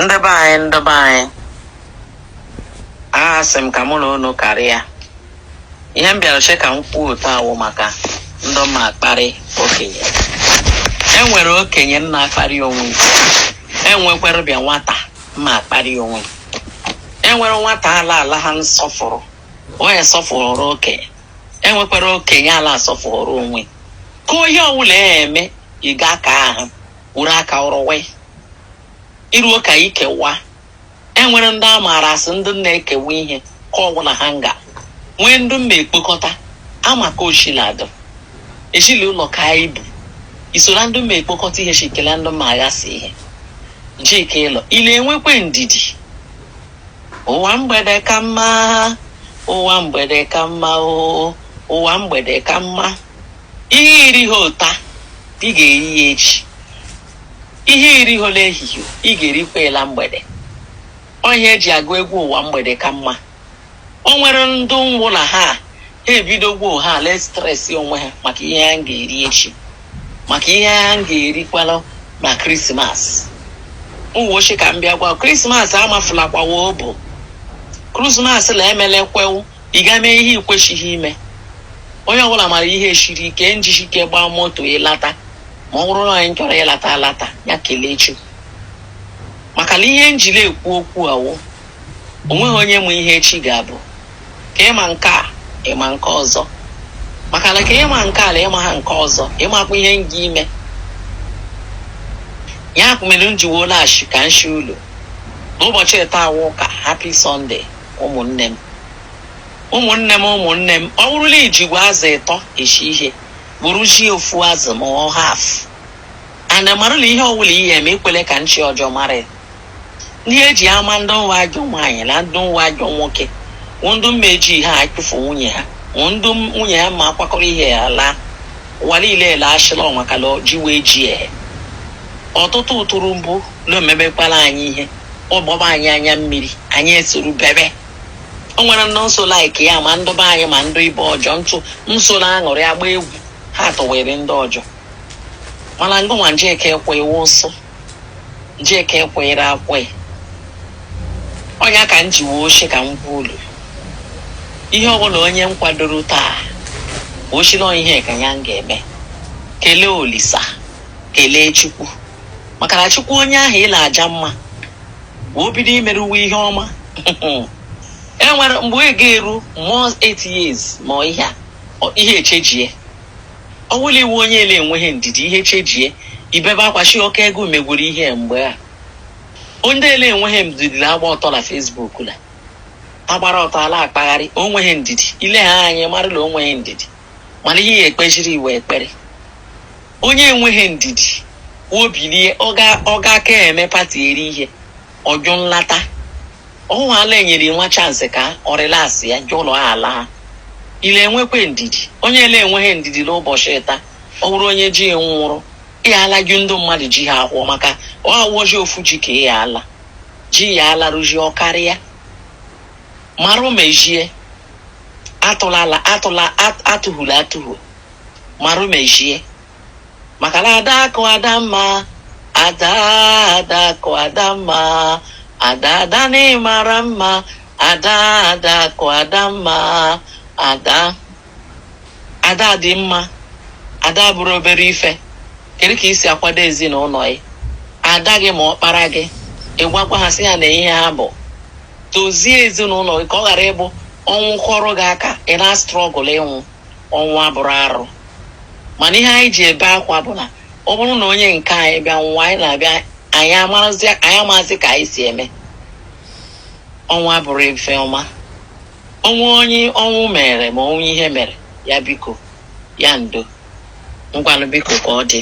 ndị be anyị ndị be anyị asị m ka mụ na unu karịa ihe m bịara che ka m kwuo taa wụ maka ndị ma akparị okenye e nwere okenye na-akparị onwe e nwekwara bịa nwata ma akparị onwe e nwere nwata ala ala ha nsọfụrụ onye sọfụrụ okenye e nwekwara okenye ala asọfụrụ onwe ka onye ọbụla ya eme ị ga aka ahụ wuru aka rụwa iruo ka ikewa e nwere ndị a maara asị ndị na-ekewa ihe ka ọbụla ha nga nwee ndị mma ekpokọta amaka oshiladụ eshili ụlọ ka ibu isoro ndị mma ekpokọta ihe shikela ndị mma aghasị ihe njike ịlọ ị le enwekwa ndidi ụwa mgbede ka mma ụwa mgbede ka mma oo ụwa mgbede ka mma ihe iri ha ụta ị ga-eri ya echi ihe iri ha n'ehihie ị ga-erikwa ela mgbede ọ ihe eji agụ egwu ụwa mgbede ka mma o nwere ndị nwụla ha ha ebidogwo ha le stress onwe ha maka ihe ha ga-eri echi maka ihe ha ga-erikwala na krismas uweochi ka m bịa gwa krismas amafulakwawa obo krismas la emelekwewu ị ga mee ihe ikweshighị ime onye ọbụla mara ihe shiri ike njishi ike gbaa moto ịlata ma ọ bụrụ na anyị chọrọ ịlata alata ya kelee Chukwu maka na ihe m ji le ekwu okwu a wụ o nweghị onye ma ihe echi ga-abụ ka ịma nke a ịma nke ọzọ maka na ka ịma nke ala ịma ha nke ọzọ ịmakwa ihe nga ime ya mere m jiwo laghachi ka m shị ulu n'ụbọchị taa wụ ụka happy Sunday ụmụnne m ụmụnne m ụmụnne m ọ bụrụ la ijigbo azụ ịtọ eshi ihe bụrụ ji ofu azụ ma ọ half and marụ la ihe ọwụla ihe eme ekwele ka nchi ọjọọ mara ya ihe eji ama ndị nwa ajọ nwaanyị na ndị nwa ajọ nwoke wụ ndị mma eji ha achụfu nwunye ha wụ ndị nwunye ha ma akwakọrọ ihe ya laa ụwa niile ele achịla ọnwa ka lọ ji wee ji ehe ọtụtụ ụtụrụ mbụ na-emebekwala anyị ihe ọ gbaba anyị anya mmiri anyị esoro bebe o nwere ndị nso like ya ma ndị be anyị ma ndị ibe ọjọọ ndị nso na aṅụrị agba egwu ha tụwere ndị ọjọọ mana ngụnwa njeke ekwe iwu nsọ njeka ekwenyere akwe ọ ya ka m ji wee shị ka m gwa ulu ihe ọbụla onye m kwadoro taa o shila ihe ka ya ga-eme kelee olisa kelee chukwu maka na chukwu onye ahụ ị la aja mma wee o bido imere uwe ihe ọma e nwere mgbe ị ga-eru mmụọ 8 years ma ọ ihe a ọ- ihe echejie ọ wụla iwu onye ele enweghị ndidi ihe chejie ibebe akwa shi ọka ego megwuru ihe mgbe a onye ele enweghị ndidi la-agba ọtọ la facebook la agbara ọtọ ala akpagharị onweghị ndidi ile ha anyị marụla onweghị ndidi mana ihe ekpejiri iwe ekpere onye enweghị ndidi obilie ọ gaa ka eme pati eri ihe ọ jụ nlata ọhụụ ala enyere nwa chance ka ọ relax ya jụ ụlọ ala ha ile enwekwe ndidi onye ele enweghị ndidi la ụbọchị taa ọ bụrụ onye ji nwụrụ ya ala gị ndị mmadụ ji ha akwụọ maka ọ awụọji ofu ji ka ya ala ji ya ala rụji ọ karịa marụ mejie atụhula atụhu marụ mejie maka na ada akụ ada mma ada ada akụ ada mma ada ada na ị mara mma ada ada akụ ada mma ada ada dị mma ada bụrụ obere ife kedu ka i si akwado ezinụlọ gị ada gị ma ọkpara gị ị gwakwa ha sị ya na ihe a bụ dozie ezinụlọ gị ka ọ ghara ịbụ ọnwụ kụọrọ gị aka ị na-astruggle ịnwụ ọnwụ abụrọ arụ mana ihe anyị ji ebe akwa bụ na ọ bụrụ na onye nke anyị bịa nwa anyị na-abịa anyị amazi ka anyị si eme ọnwụ abụrọ ife ọma o nwee onye ọnwụ mere ma o nwee ihe mere ya biko ya ndo ngwanụ biko ka ọ dị